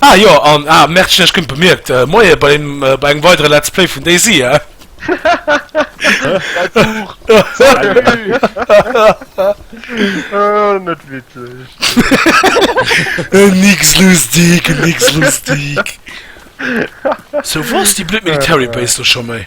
Ah jo, an ah Mertchen ech gënnt bemierkt, Moie bei deem bei engem weidere Let's Play vun Daisy eh? Däi Buch! Salut! Net witzeg. Nix lustig, nix lustig. Sou wor es déi blöd Military Base do scho méi?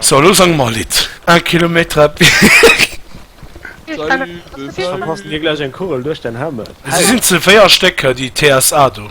So elo sang mer e Lidd. Un kilometre à pied. Verpassen dir gläich eng Kugel duerch den Helmet? Si sinn ze 4 Stécker déi TSA do.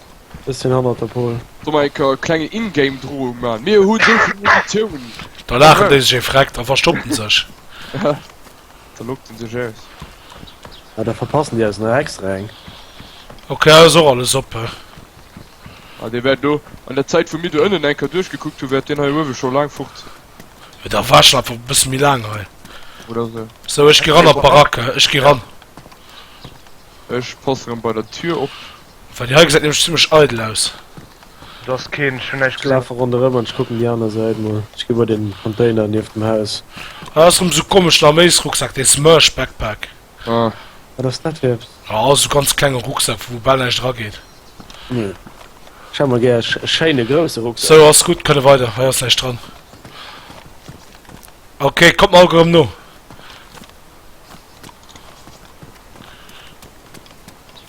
Ech sin hannert der Pole. Soll mer enker e klengen in-game Drohung maan? Mir hun esou vill Munitiounen! Da laachen déi sech ee Vreck a verstoppen sech. Da loggt en sech aus. Ah, da verpassen déi eis nach extra eng. Ok, hei ass och alles oppe. Ah, dee war do. An der Zäit wou mir do ënnen enker duerchgekuckt hu war deen hei uewe scho laang fort. Jo, da war schon einfach e bësse méi laang hei. Oder esou. Sou, ech gi ran an d'Baracke. Ech gi ran. Ech pass rem bei der Tür op. Well déi hei gesäit nämlech zimlech eidel aus. Do ass keen, ech hunn näischt Ech gesinn. lafe ronderëm an ech kucken déi aner Säit mol. Ech gi bei den Container nieft dem Haus. Ah, dat ass erëm esou komeschen Arméisrucksak, dee Smursh Backpack. Ah. Wat ass dat fir eppes? Ah, ass esou ganz klenge Rucksak, wou bal näischt erageet. Hm. Ech hätt mer gär e schéine grousse Rucksak. Sou, ass gutt, kënne weider. Hei ass näischt dran. Ok, kommt mer all erëm no.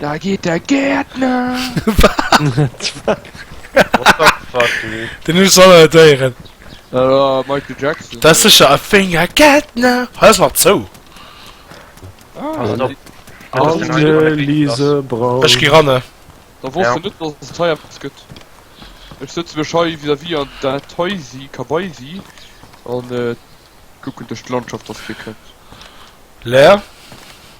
Da geet der Gärtner! Den hu solle déieren dat secher a wénger Gärtner he mat zou. Ech gi ranne. Da wosst de net dass et Firefox gëtt? Ech sëtze mech hei vis-à-vis an dat heisi kabaisi an kucken duerch d'Landschaft, dass d'Bier kënnt. Leer.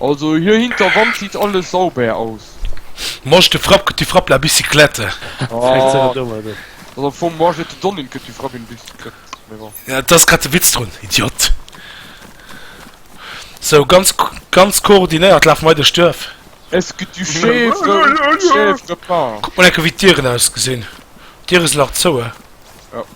Also hier hinter Wand sieht alles sauber aus. Moi je te frappe que tu frappes la bicyclette. Also moi je te donne que tu frappes une bicyclette. Dat ass grad de Witz drun, Idiot. Sou, ganz ganz koordinéiert lafe mer hei duerch d'Duerf. Est-ce que tu chèvre ou tu chèvres pas? Kuck mol enke wéi d'Dieren ausgesinn. D'Diere sinn nach zouë.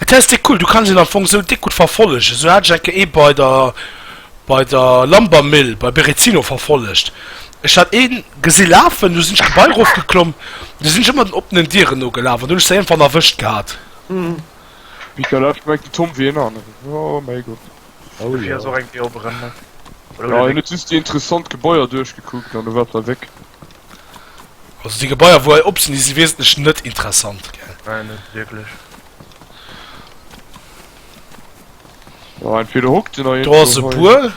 Et ass déck cool, du kanns een am Fong sou déck gutt verfollegen, sou hat ech eng Kéier ee bei der bei der Lambermill bei Berezino verfollegt, ech hat een gesi lafen, du sinn ech d'Gebai erof geklomm, du sinn ech ëmmer den oppenen Dieren no gelaf an du hunn ech se iergendwann erwëscht gehat. Mika lauscht gemengt den Tom wéi een aneren, oh mäi Gott. Oh jo. Jo en huet just déi interessant Gebaier duerchgekuckt an du waars da wéck. Also déi Gebaier wou hei op sinn, déi si wesentlech net interessant, gell? Nei, net wierklech. Jo, entweder hockt en a. Do ass e Bur.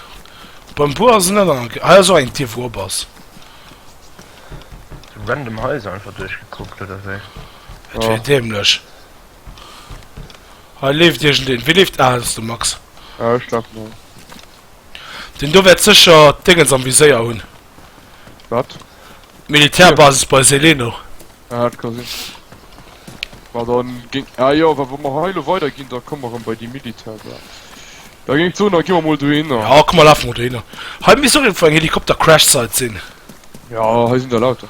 Beim Bur ass en net an. Hei ass och eng Dier wou op ass. Sou random Haiser einfach duerchgekuckt, oder wéi? Dat wier dämlech. Hei leeft iergendeen. Wie leeft? Ah, dat ass de Max. Ja, ech laf no. Deen do wäert sécher d'Déngens am Viséier hunn. Wat? Militärbasis bei Seleno. Ah, dat ka sinn. Ma dann géing. Ah jo, wa wa mer hei elo weider ginn, da komme mer erëm bei déi Militärbasis. Da géing ech soen, da gi mer mol dohinner. Ja, komm, mer lafe mol dohinner. Hei misst och iergendwou eng Helikopter-Crash-Site sinn. Ja, hei sinn der lauter.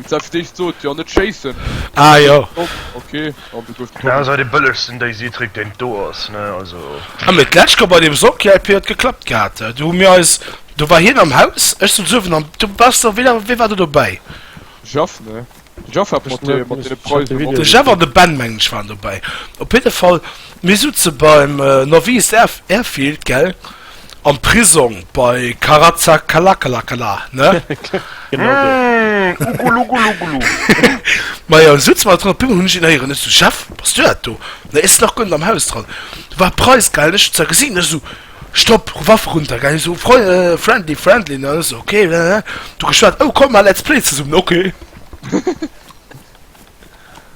Wou selbst déi sot, jo net schéissen. Ah jo. Dat ass hei dee bëllegsten Daisy-Trick deen et do ass, ne, also. Ah mee d'lescht Joer bei deem Soccer-LP huet geklappt gehat, do hu mir eis, do war hien am Haus, ech sot uewen an du bass do, wee, wee war do dobäi? De Jeff, ne? De Jeff hat mat deem, mat deene Preisen op. De Jeff an de Ben mengen ech waren dobäi, op jidde Fall, mir sutze beim Novice Airfield, gell? Am Prisong bei Karazakalakalakala, ne? Genau sou. Mmh, ugulugguluggulu. Ma jo, sutz mer dran, op eemol hunn ech een héieren. Ech sou, Chef, bass du dat do? Nee, e snock guer net am Haus dran. Do war Preiss, gell? Ech hunn zwar gesinn, ech sou, Stopp, ru Waff erunter, gell? Hie sou, Freu, friendly, friendly, ne? Ech sou, ok, blablabla. Du geschwat, Oh, komm, mer Let's Play zesummen, ok.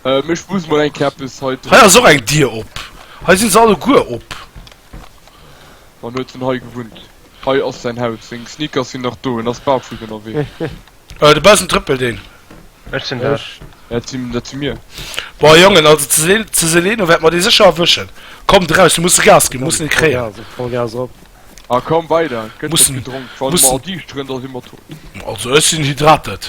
Ähm, ech muss mol eng Kéier eppes hei dru. Hei ass och eng Dier op. Hei si se alleguer op. An huet vun hei gewunnt. Hei ass säin Haus. Seng Sneakers sinn nach do. En ass barfutt ënnerwee. De Basen trëppelt een. Ech sinn dat. Dat si, dat si mir. Boah Jongen, also ze Sel, ze Seleno wäert mer dee sécher erwëschen. Kommt eraus, mir musse Gas ginn, mir mussen et kréien. Vollgas, Vollgas op. Ah komm weider, et gëtt net gedronk. Wann mer an Diicht rënn, da si mer tot. Also ech sinn hydrated.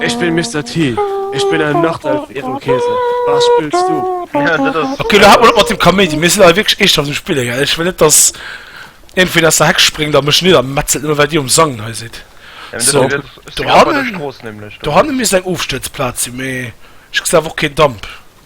Ech bin Mister T, ech bin en Nachtelf iwwem Keesel. Wat spills du? Okay, lo haalt mol op mat dem Kaméidi, mir sinn hei wierklech eescht am sech spillen, gell? Ech wëll net, dass iergendween aus der Heck spréngt a mech niddermetzelt, nëmme well dir um Sangen hei sidd. So, dohannen, dohannen misst eng Ofstëtzplaz sinn, mee ech gesinn awer och keen Damp.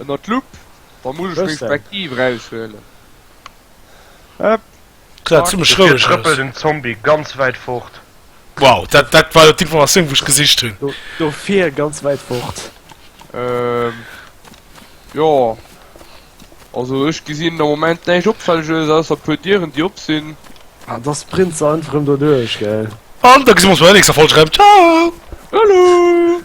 Ënner d'Lupp, da muss ech meng Spektiv eraushuelen. Hëpp. Sah zimmlech Dofir roueg trëppelt aus. den Zombie ganz wäit fort. Wow, dat, dat war d'Informatioun, wou ech gesicht hunn. Do, dofir ganz wäit fort. Ähm, jo. Also ech gesinn am Moment näischt Opfälleges, ausser e puer Dieren, déi op sinn. Ah, da sprint se einfach rëm doduerch, gell? An da gesi mer ons bei der nächster Folg erëm. Ciao! Salut!